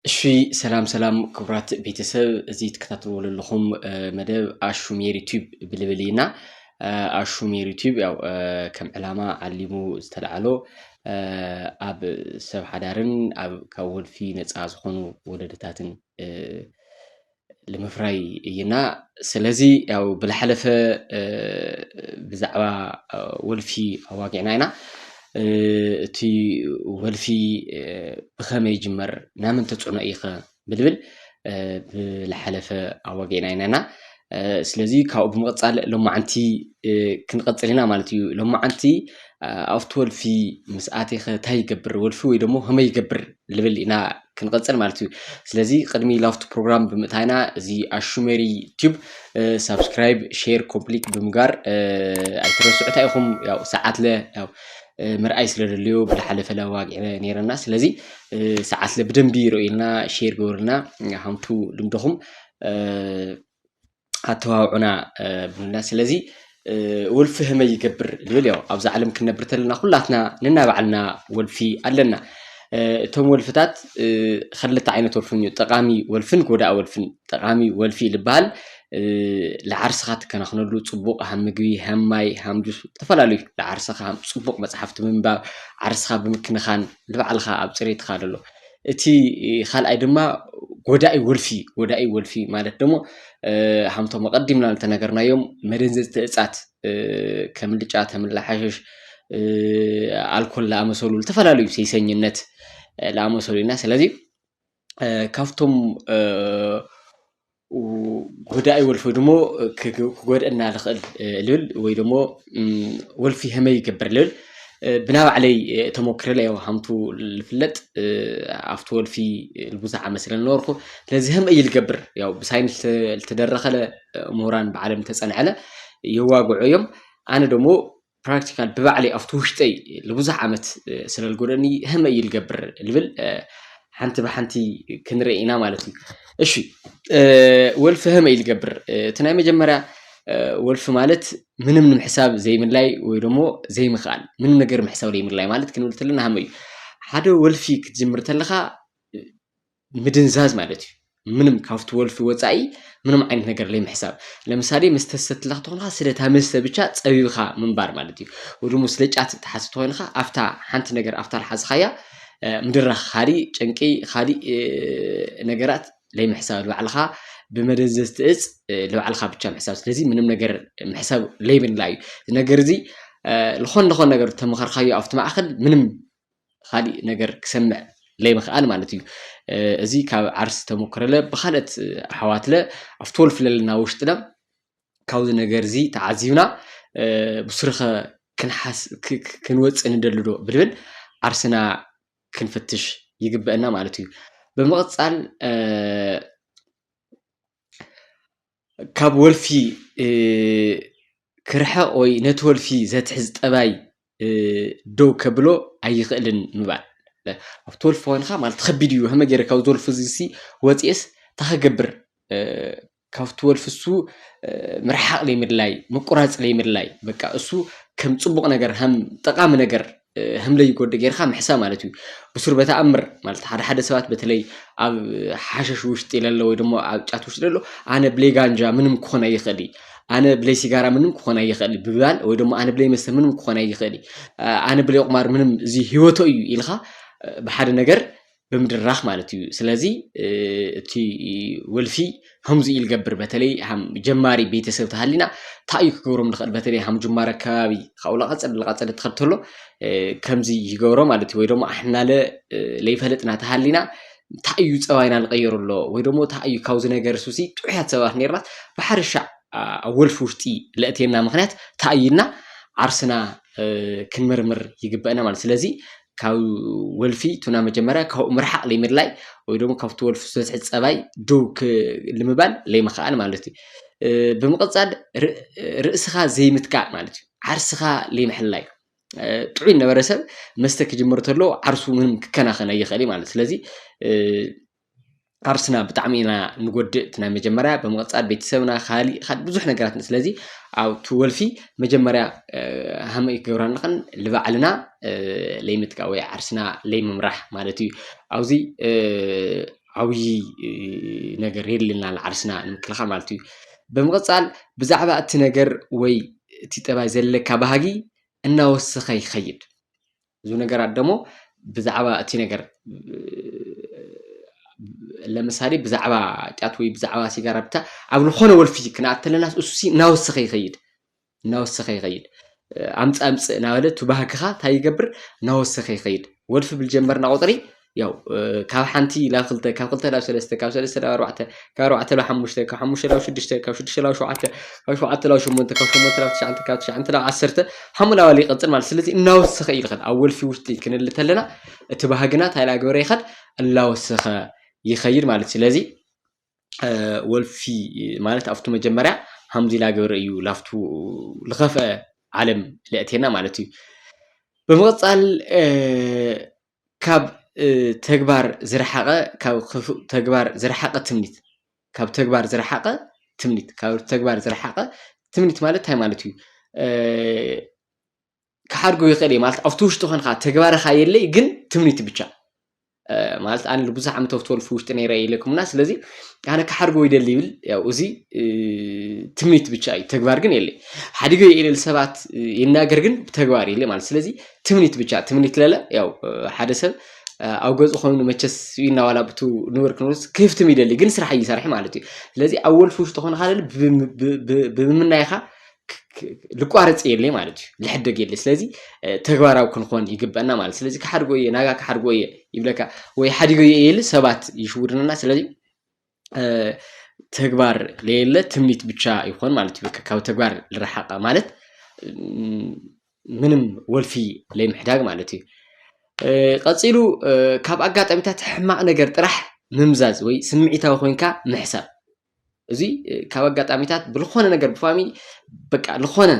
እሺ ሰላም ሰላም ክቡራት ቤተሰብ እዚ ትከታተልዎ ዘለኹም መደብ ኣሹ ሜሪ ቲዩብ ብልብል ኢና ኣሹ ሜሪ ቲዩብ ያው ከም ዕላማ ዓሊሙ ዝተልዓሎ ኣብ ሰብ ሓዳርን ኣብ ካብ ወልፊ ነፃ ዝኾኑ ወለድታትን ልምፍራይ እይና ስለዚ ያው ብላሓለፈ ብዛዕባ ወልፊ ኣዋጊዕና ኢና እቲ ወልፊ ብኸመይ ይጅመር ናምን ተፅዕኖ እይኸ ብልብል ብላሓለፈ ኣዋጊዕና ኢና ኢና ስለዚ ካብኡ ብምቕፃል ሎማዓንቲ ክንቐፅል ኢና ማለት እዩ ሎማዓንቲ ኣብቲ ወልፊ ምስ ኣቴኸ እንታይ ይገብር ወልፊ ወይ ደሞ ከመይ ይገብር ልብል ኢና ክንቕፅል ማለት እዩ ስለዚ ቅድሚ ላፍቱ ፕሮግራም ብምእታይና እዚ ኣሹሜሪ ቲዩብ ሳብስክራይብ ሼር ኮምፕሊት ብምጋር ኣይትረስዑ እንታይ ኢኹም ያው ሰዓት ለ ያው ምርኣይ ስለ ደልዮ ብላሓለፈ ለዋግዒ ነይረና ስለዚ ሰዓት ለ ብደንቢ ይርእዩልና ሼር ገበሩልና ሃምቱ ልምድኹም ኣተባብዑና ብሉና ስለዚ ወልፊ ህመይ ይገብር ዝብል ያው ኣብዛ ዓለም ክንነብር ተለና ኩላትና ነናባዕልና ወልፊ ኣለና እቶም ወልፍታት ክልተ ዓይነት ወልፍን እዩ ጠቃሚ ወልፍን ጎዳኢ ወልፍን ጠቃሚ ወልፊ ዝበሃል ንዓርስኻ ትከናኽነሉ ፅቡቕ ሃም ምግቢ ሃም ማይ ሃም ጁስ ዝተፈላለዩ ንዓርስኻ ፅቡቕ መፅሓፍቲ ምንባብ ዓርስኻ ብምክንኻን ንባዕልኻ ኣብ ፅሬትካ ዘሎ እቲ ኻልኣይ ድማ ጎዳኢ ወልፊ ጎዳኢ ወልፊ ማለት ደሞ ሃምቶም ኣቐዲምና ዝተነገርናዮም መደንዘዝቲ እጻት ከም ልጫ ተምላ ሓሸሽ ኣልኮል ዝኣመሰሉ ዝተፈላለዩ ሴሰኝነት ዝኣመሰሉ ኢና ስለዚ ካብቶም ጎዳኢ ወልፊ ወይ ደሞ ክጎድእና ዝኽእል ልብል ወይ ደሞ ወልፊ ከመይ ይገብር ልብል ብናይ ባዕለይ ተሞክረ ኢለ ያው ሃምቱ ዝፍለጥ ኣብቲ ወልፊ ብዙሕ ዓመት ስለ ዝነበርኩ ስለዚ ከመይ እዩ ዝገብር ያው ብሳይንስ ዝተደረኸለ ምሁራን ባዕሎም ዝተፀንዐለ የዋግዑ እዮም። ኣነ ደሞ ፕራክቲካል ብባዕለይ ኣብቲ ውሽጠይ ንብዙሕ ዓመት ስለ ዝጎደኒ ህመ እዩ ልገብር ልብል ሓንቲ ብሓንቲ ክንርኢ ኢና ማለት እዩ እሺ ወልፊ ህመ እዩ ልገብር እቲ ናይ መጀመርያ ወልፊ ማለት ምንም ንምሕሳብ ዘይምላይ ወይ ደሞ ዘይምኽኣል ምንም ነገር ምሕሳብ ዘይምላይ ማለት ክንብል ተለና ሃመ እዩ ሓደ ወልፊ ክትጅምር ተለኻ ምድንዛዝ ማለት እዩ ምንም ካብቲ ወልፊ ወፃኢ ምንም ዓይነት ነገር ለይምሕሳብ ለምሳሌ መስተ ዝሰትላ ክትኾንካ ስለታ መስተ ብቻ ፀቢብኻ ምንባር ማለት እዩ ወይ ደግሞ ስለ ጫት ትሓዝ ተኾይንካ ኣፍታ ሓንቲ ነገር ኣፍታ ልሓዝኻያ ምድራኽ ካሊእ ጭንቂ ካሊእ ነገራት ለይምሕሳብ ልባዕልኻ ብመደንዘዝቲ እፅ ልባዕልኻ ብቻ ምሕሳብ ስለዚ ምንም ነገር ምሕሳብ ለይብላ እዩ እዚ ነገር እዚ ዝኾን ለኾን ነገር ተመኸርካዮ ኣብቲ ማእኸል ምንም ኻሊእ ነገር ክሰምዕ ለይምኽኣል ማለት እዩ። እዚ ካብ ዓርስ ተመክረለ ብኻልኦት ኣሕዋትለ ኣብቲ ወልፊ ለለና ውሽጥለ ካብዚ ነገር እዚ ተዓዚብና ብሱርኸ ክንወፅእ ንደሊ ዶ ብልብል ዓርስና ክንፍትሽ ይግበእና ማለት እዩ። ብምቕፃል ካብ ወልፊ ክርሕቕ ወይ ነቲ ወልፊ ዘትሕዝ ጠባይ ደው ከብሎ ኣይኽእልን ምባል። ኣብቲ ወልፊ ኮንካ ማለት ከቢድ እዩ ከመይ ገይረ ካብዚ ወልፊ እዚ ሲ ወፂኤስ እንታይ ክገብር ካብቲ ወልፊ እሱ ምርሓቕ ዘይምድላይ ምቁራፅ ዘይምድላይ በቃ እሱ ከም ፅቡቕ ነገር ከም ጠቓሚ ነገር ህምለይ ጎዲ ጌርካ ምሕሳ ማለት እዩ ብሱር በተኣምር ማለት ሓደ ሓደ ሰባት በተለይ ኣብ ሓሸሽ ውሽጢ ለሎ ወይ ደሞ ኣብ ጫት ውሽጢ ለሎ ኣነ ብለይ ጋንጃ ምንም ክኾን ኣይኽእል ኣነ ብለይ ሲጋራ ምንም ክኾን ኣይኽእል ብባል ወይ ደሞ ኣነ ብለይ መስተ ምንም ክኾን ኣይኽእል ኣነ ብለይ ቁማር ምንም እዚ ህይወቶ እዩ ኢልካ ብሓደ ነገር ብምድራኽ ማለት እዩ። ስለዚ እቲ ወልፊ ከምዚ ኢል ገብር በተለይ ሃም ጀማሪ ቤተሰብ ተሃሊና ታዩ ክገብሮም ንኽእል በተለይ ሃም ጅማር ኣከባቢ ካብኡ ላቐጸድ ላቐጸድ ትኸድ ተሎ ከምዚ ይገብሮ ማለት እዩ። ወይ ደሞ ኣሕናለ ለይፈለጥና ተሃሊና ታዩ ጸባይና ልቐየሩ ኣሎ ወይ ደሞ ታዩ ካብዚ ነገር ሱሲ ጥዑያት ሰባት ኔርናስ ብሓርሻዕ ኣብ ወልፊ ውሽጢ ለእቴና ምኽንያት ታዩና ዓርስና ክንምርምር ይግበአና ማለት ስለዚ ካብ ወልፊ ቱና መጀመርያ ካብኡ ምርሓቕ ለይምድላይ ወይ ደግሞ ካብቲ ወልፊ ዘትሕት ፀባይ ደው ልምባል ለይምኽኣል ማለት እዩ ብምቕፃል ርእስኻ ዘይምትካእ ማለት እዩ ዓርስኻ ለይምሕላይ ጥዑይ ነበረ ሰብ መስተ ክጅምር ተሎ ዓርሱ ምንም ክከናኸን ኣይኽእል ማለት ስለዚ ዓርስና ብጣዕሚ ኢና ንጎድእ እቲ ናይ መጀመርያ ብምቕጻል ቤተሰብና ካሊእ ካሊእ ብዙሕ ነገራት ስለዚ ኣብቲ ወልፊ መጀመርያ ሃመይ ክገብራ ኣለኽን ልባዕልና ለይምጥቃ ወይ ዓርስና ለይምምራሕ ማለት እዩ ኣብዚ ዓብዪ ነገር የድልየና ኣሎ ዓርስና ንምክልኻል ማለት እዩ። ብምቕጻል ብዛዕባ እቲ ነገር ወይ እቲ ጠባይ ዘለካ ባህጊ እናወሰኸ ይኸይድ። ብዙ ነገራት ደሞ ብዛዕባ እቲ ነገር ለምሳሌ ብዛዕባ ጫት ወይ ብዛዕባ ሲጋራ ብቻ ኣብ ዝኾነ ወልፊ ክንኣት ተለና እሱሲ እናወሰኸ ይኸይድ እናወሰኸ ይኸይድ ኣምፅ ኣምፅ እናበለ እቲ ባህግኻ እንታይ ይገብር እናወሰኸ ይኸይድ ወልፊ ብልጀመርና ቁፅሪ ያው ካብ ሓንቲ ናብ ክልተ ካብ ክልተ ናብ ሰለስተ ካብ ሰለስተ ናብ ኣርባዕተ ካብ ኣርባዕተ ናብ ሓሙሽተ ካብ ሓሙሽተ ናብ ሽዱሽተ ካብ ሽዱሽተ ናብ ሸውዓተ ካብ ሸውዓተ ናብ ሸሞንተ ካብ ሸሞንተ ናብ ትሽዓተ ካብ ትሽዓተ ናብ ዓሰርተ ሓሙ ናባል ይቐፅል ማለት ስለዚ እናወሰኸ እዩ ዝኸድ ኣብ ወልፊ ውሽጢ ክንል ተለና እቲ ባህግና እንታይ እናገበረ ይኸድ እናወሰኸ ይኸይድ ማለት ስለዚ ወልፊ ማለት ኣብቱ መጀመርያ ሃምዚ እናገበረ እዩ ላፍቱ ዝኸፍአ ዓለም ለእቴና ማለት እዩ ብምቕፃል ካብ ተግባር ዝረሓቐ ካብ ክፉእ ተግባር ዝረሓቐ ትምኒት ካብ ተግባር ዝረሓቐ ትምኒት ካብ ተግባር ዝረሓቐ ትምኒት ማለት እንታይ ማለት እዩ? ክሓድጎ ይኽእል እየ ማለት ኣብቲ ውሽጢ ኮንካ ተግባርኻ የለይ ግን ትምኒት ብቻ ማለት ኣነ ብዙሕ ዓመት ኣብቲ ወልፊ ውሽጢ ነይረ ኢለኩምና ስለዚ ኣነ ክሓድጎ ይደሊ ይብል ያው እዚ ትምኒት ብቻ እዩ ተግባር ግን የለይ ሓዲገ የለል ሰባት ይናገር ግን ብተግባር የለይ ማለት ስለዚ ትምኒት ብቻ ትምኒት ለለ ያው ሓደ ሰብ ኣብ ገፁ ኮይኑ መቸስ ስብኢና ዋላ ብቱ ንብር ክንብርስ ክህፍትም ይደሊ ግን ስራሕ እይሰርሒ ማለት እዩ ስለዚ ኣብ ወልፊ ውሽጢ ኾንካ ለለ ብምምናይኻ ልቋረፅ የለይ ማለት እዩ ልሕደግ የለ ስለዚ ተግባራዊ ክንኾን ይግበአና ማለት ስለዚ ክሓድጎ እየ ናጋ ክሓድጎ እየ ይብለካ ወይ ሓዲጎ እየ የለ ሰባት ይሽውድንና ስለዚ ተግባር ለየለ ትምኒት ብቻ ይኾን ማለት እዩ። ካብ ተግባር ልረሓቀ ማለት ምንም ወልፊ ለይምሕዳግ ማለት እዩ። ቀፂሉ ካብ ኣጋጣሚታት ሕማቅ ነገር ጥራሕ ምምዛዝ ወይ ስምዒታዊ ኮይንካ ምሕሳብ እዚ ካብ ኣጋጣሚታት ብልኾነ ነገር ብፋሚ በቃ ልኾነ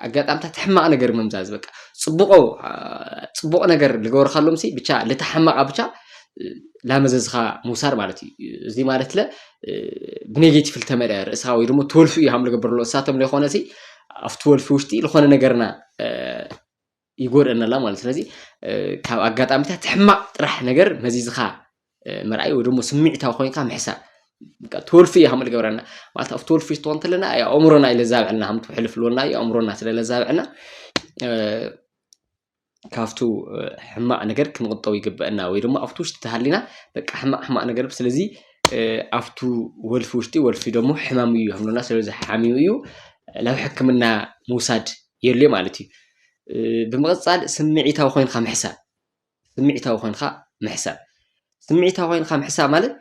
ኣጋጣምታት ሕማቅ ነገር ምምዛዝ በቃ ጽቡቆ ጽቡቅ ነገር ልገብርካሎም ሲ ብቻ ልታ ሕማቃ ብቻ ላመዘዝኻ ምውሳድ ማለት እዩ እዚ ማለት ለ ብኔጌቲቭ ልተመልአ ርእሳ ወይ ድማ ትወልፊ እዩ ሃም ልገብርሎ እሳቶም ለይኮነ ሲ ኣብቲ ወልፊ ውሽጢ ልኾነ ነገርና ይጎድኣና ኣላ ማለት ስለዚ ካብ ኣጋጣሚታት ሕማቅ ጥራሕ ነገር መዚዝካ ምርኣይ ወይ ደሞ ስምዒታዊ ኮይንካ ምሕሳብ ትወልፊ እዩ ከም ዝገብረና ማለት ኣብ ትወልፊ ትኾን እንተለና ኣእምሮና እዩ ለዛብዐና ከም ትውሕልፍ ኣለና እዩ ኣእምሮና ስለ ለዛብዐና ካብቱ ሕማቅ ነገር ክንቁጠብ ይግበአና ወይ ደሞ ኣብቲ ውሽጢ ተሃሊና በቃ ሕማቅ ሕማቅ ነገር ስለዚ ኣብቱ ወልፊ ውሽጢ ወልፊ ደሞ ሕማም እዩ ከምለና ስለዚ ሓሚሙ እዩ ናብ ሕክምና ምውሳድ የድልዮ ማለት እዩ። ብምቕፃል ስምዒታዊ ኮይንካ ምሕሳብ ስምዒታዊ ኮይንካ ምሕሳብ ስምዒታዊ ኮይንካ ምሕሳብ ማለት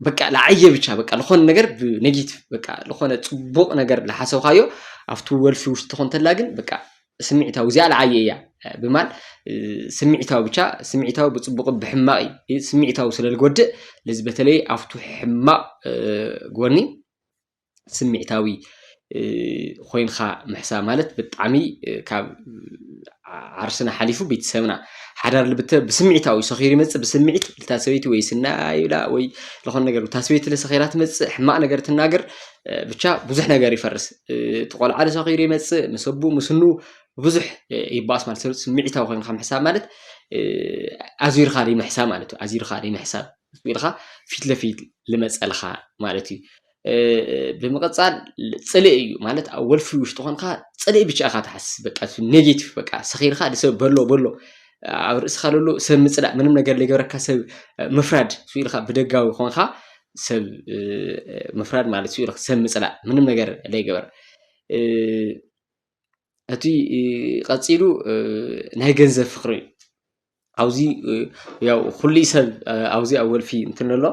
በቃ ለዓየ ብቻ በቃ ዝኾነ ነገር ብኔጌቲቭ በቃ ዝኾነ ፅቡቕ ነገር ዝሓሰብካዮ ኣብቲ ወልፊ ውሽጢ ኮንተላ ግን በቃ ስምዒታዊ እዚኣ ለዓየ እያ ብማል ስምዒታዊ ብቻ ስምዒታዊ ብፅቡቕ ብሕማቕ እዩ ስምዒታዊ ስለ ዝጎድእ ለዚ በተለይ ኣብቱ ሕማቕ ጎኒ ስሚዕታዊ ኮይንካ ምሕሳብ ማለት ብጣዕሚ ካብ ዓርስና ሓሊፉ ቤተሰብና ሓዳር ልብተ ብስምዒታዊ ሰኺሩ ይመፅእ ብስምዒት እታ ሰበይቲ ወይ ስና ይብላ ወይ ዝኾነ ነገር እታ ሰበይቲ ለሰኺራ ትመፅእ ሕማቕ ነገር ትናገር ብቻ ብዙሕ ነገር ይፈርስ እቲ ቆልዓ ለሰኺሩ ይመፅእ ምስ ኣቡ ምስ ኑ ብዙሕ ይባኣስ ማለት ስምዒታዊ ኮይንካ ምሕሳብ ማለት ኣዚርካ ዘይምሕሳብ ማለት እዩ ኣዚርካ ዘይምሕሳብ ምስ ኢልኻ ፊት ለፊት ልመጸልኻ ማለት እዩ ብምቕጻል ጽልኢ እዩ ማለት ኣብ ወልፊ ውሽጢ ኮንካ ጽልኢ ብቻ ኢኻ ትሓስብ በቃ ኔጌቲቭ በቃ ሰኺርካ ንሰብ በሎ በሎ ኣብ ርእስኻ ለሎ ሰብ ምጽላእ ምንም ነገር ዘይገበረካ ሰብ ምፍራድ ሱ ኢልካ ብደጋዊ ኮንካ ሰብ ምፍራድ ማለት ሱ ኢልካ ሰብ ምጽላእ ምንም ነገር ዘይገበር እቲ ቀፂሉ ናይ ገንዘብ ፍቅሪ እዩ። ኣብዚ ያው ኩሉ ሰብ ኣብዚ ኣብ ወልፊ እንትን ኣሎ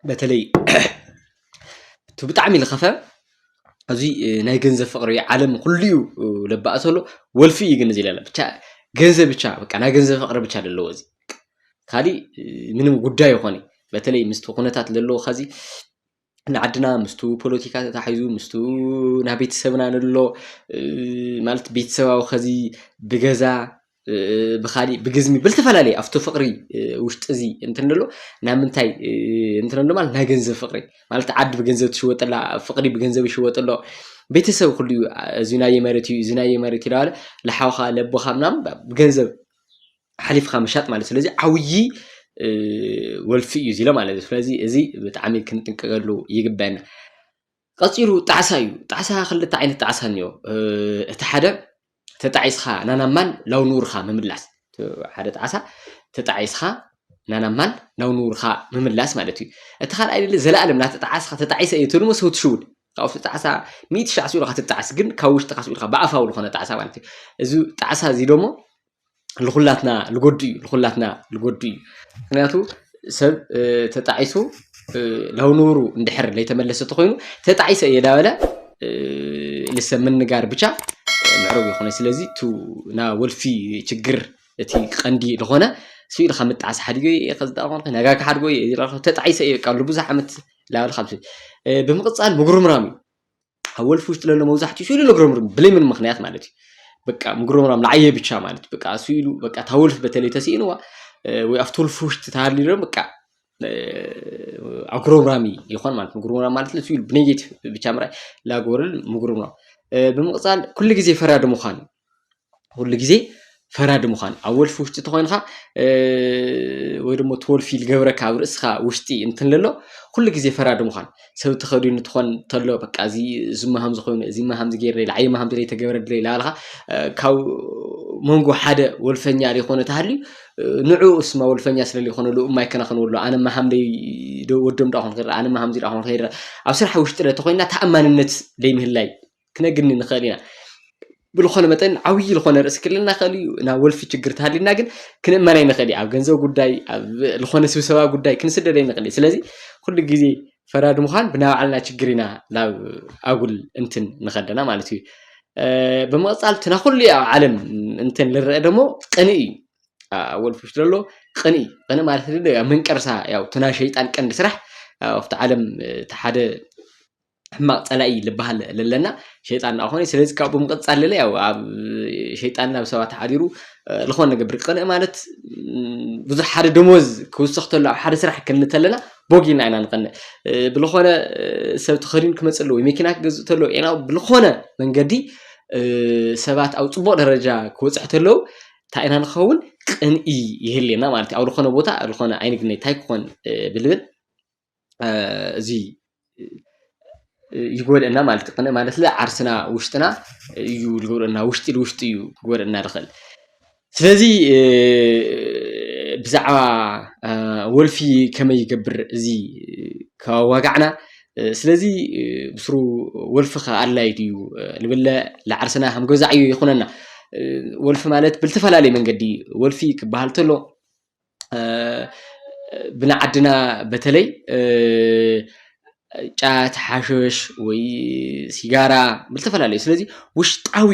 በተለይ እቲ ብጣዕሚ ዝኸፈ ኣብዚ ናይ ገንዘብ ፍቅሪ እዩ። ዓለም ኩሉ እዩ ለባእሱ ዘሎ ወልፊ እዩ ግን እዚ ለለ ብቻ ገንዘብ ብቻ በቃ ናይ ገንዘብ ፍቅሪ ብቻ ዘለዎ እዚ ካሊእ ምንም ጉዳይ ኣይኮነይ። በተለይ ምስቲ ኩነታት ዘለዎ ኸዚ ንዓድና ምስቱ ፖለቲካ ተታሒዙ ምስቱ ናይ ቤተሰብና ንሎ ማለት ቤተሰባዊ ከዚ ብገዛ ብኻሊእ ብግዝሚ ብልተፈላለየ ኣብቲ ፍቕሪ ውሽጢ እዚ እንትንሎ ናብ ምንታይ እንትንሎ ማለት ናይ ገንዘብ ፍቕሪ ማለት ዓዲ ብገንዘብ ትሽወጠላ ፍቕሪ ብገንዘብ ይሽወጠሎ ቤተሰብ ኩሉ እዩ እዚ ናየ መሬት እዩ እዚ ናየ መሬት ይለዋለ ለሓውኻ ለቦኻ ምናምን ብገንዘብ ሓሊፍካ ምሻጥ ማለት እዩ። ስለዚ ዓብዪ ወልፊ እዩ እዚ ኢለ ማለት እዩ። ስለዚ እዚ ብጣዕሚ ክንጥንቀቀሉ ይግበአና። ቀፂሉ ጣዕሳ እዩ። ጣዕሳ ክልተ ዓይነት ጣዕሳ እኒኦ። እቲ ሓደ ተጣዒስኻ ናናብ ማል ናብ ንቡርካ ምምላስ ሓደ ጣዕሳ ተጣዒስኻ ናናብ ማል ናብ ንቡርካ ምምላስ ማለት እዩ። እቲ ካልኣይ ዘለኣለም እናተጣዓስኻ ተጣዒሰ እየ ትብል እሞ ሰው ትሽውድ ካብ ውሽጢ ጣዕሳ ሚእቲ ሻዕ ስኢሉ ከትጣዕስ ግን ካብ ውሽጥካ ስኢልካ ብኣፋዊ ዝኾነ ጣዕሳ ማለት እዩ እዚ ጣዕሳ እዚ ደሞ ልኹላትና ልጎድእ እዩ ልኹላትና ልጎድእ እዩ ምክንያቱ ሰብ ተጣዒሱ ናብ ንቡሩ እንድሕር ለይተመለሰ ተኾይኑ ተጣዒሰ እየ ዳበለ ልሰብ ምንጋር ብቻ ምዕሩግ ይኾነ ስለዚ ቱ ና ወልፊ ችግር እቲ ቀንዲ ዝኾነ ስኢልካ ምጣዓስ ሓዲገ እየ ከዝዳ ኮንከ ነጋ ክሓድጎ እየ ተጣዒሰ እየ ቃሉ ብዙሕ ዓመት ላዕሊ ካብ ስእሊ ብምቕጻል ምጉርምራም እዩ ኣብ ወልፊ ውሽጢ ለሎ መብዛሕትኡ ስእሉ ለጉረምርም ብለይ ምን ምክንያት ማለት እዩ በቃ ምጉርምራም ንዓየ ብቻ ማለት በቃ ስእሉ በቃ እታ ወልፊ በተለይ ተስኢንዋ ወይ ኣብቲ ወልፊ ውሽጢ ተሃልዩ በቃ ኣጉረምራሚ ይኾን ማለት ምጉርምራም ማለት ስእሉ ብኔጌቲቭ ብቻ ምርኣይ ላጎርል ምጉርምራም ብምቕጻል ኩሉ ግዜ ፈራዲ ምዃን እዩ ኩሉ ግዜ ፈራዲ ምዃን ኣብ ወልፊ ውሽጢ ተኾይንካ ወይ ደሞ እቲ ወልፊ ዝገብረካ ኣብ ርእስኻ ውሽጢ እንትንለሎ ኩሉ ግዜ ፈራዲ ምዃን ሰብ ተኸዲኑ ትኾን ተሎ በቃ እዚ እዚማ ሃምዚ ኮይኑ እዚማ ሃምዚ ገይረ ላዕይማ ሃምዚ ዘይተገበረለ ላበልካ ካብ መንጎ ሓደ ወልፈኛ ዘይኮነ ተሃልዩ ንዕኡ እስማ ወልፈኛ ስለ ዘይኮነሉ እማ ይከናኸንዎ ኣሎ ኣነማ ሃምደይ ወዶም ዳኹን ክርኢ ኣነማ ሃምዚ ዳኹን ክርኢ ኣብ ስራሕ ውሽጢ ተኾይንና ተኣማንነት ዘይምህላይ ክነግኒ ንኽእል ኢና። ብዝኾነ መጠን ዓብዪ ዝኾነ ርእሲ ክህልወና ይኽእል እዩ። ናብ ወልፊ ችግር ተሃሊና ግን ክንእመን ኣይንኽእል እዩ። ኣብ ገንዘብ ጉዳይ፣ ኣብ ዝኾነ ስብሰባ ጉዳይ ክንስደድ ኣይንኽእል እዩ። ስለዚ ኩሉ ግዜ ፈራድ ምዃን ብናይ ባዕልና ችግር ኢና ናብ ኣጉል እንትን ንኸደና ማለት እዩ። ብምቕጻል እቲ ናብ ኩሉ ኣብ ዓለም እንትን ልረአ ደሞ ቅንኢ እዩ። ኣብ ወልፊ ውሽጢ ዘሎ ቅንኢ ቅንኢ ማለት መንቀርሳ ያው እቲ ናይ ሸይጣን ቀንዲ ስራሕ ኣብቲ ዓለም እቲ ሓደ ሕማቅ ፀላኢ ልበሃል ለለና ሸይጣን እናኾነ ስለዚ ካብኡ ብምቕፃል ለለ ያው ኣብ ሸይጣን ናብ ሰባት ሓዲሩ ዝኾነ ነገብር ቅንኢ ማለት ብዙሕ ሓደ ደሞዝ ክውስኽ ተሎ ኣብ ሓደ ስራሕ ክንል ተለና ቦጊና ኢና ንቐንእ ብልኾነ ሰብ ተኸዲኑ ክመፅእ ኣለዎ መኪና ክገዝእ ተሎ ኢና ብልኾነ መንገዲ ሰባት ኣብ ፅቡቕ ደረጃ ክወፅሕ ተለው እንታይ ኢና ንኸውን ቅንኢ ይህልየና ማለት እዩ ኣብ ዝኾነ ቦታ ዝኾነ ኣይንግነይ እንታይ ክኾን ብልብል እዚ ይጎድእና ማለት እዩ። ማለት ዓርስና ውሽጥና እዩ ዝጎድእና ውሽጢ ንውሽጢ እዩ ክጎድእና ዝኽእል። ስለዚ ብዛዕባ ወልፊ ከመይ ይገብር እዚ ከዋጋዕና ስለዚ ብስሩ ወልፊ ከ ኣድላይ ድዩ ንብለ ንዓርስና ከም ገዛ ዕዮ ይኹነና። ወልፊ ማለት ብዝተፈላለየ መንገዲ ወልፊ ክበሃል ተሎ ብንዓድና በተለይ ጫት ሓሽሽ ወይ ሲጋራ ብዝተፈላለዩ ስለዚ ውሽጣዊ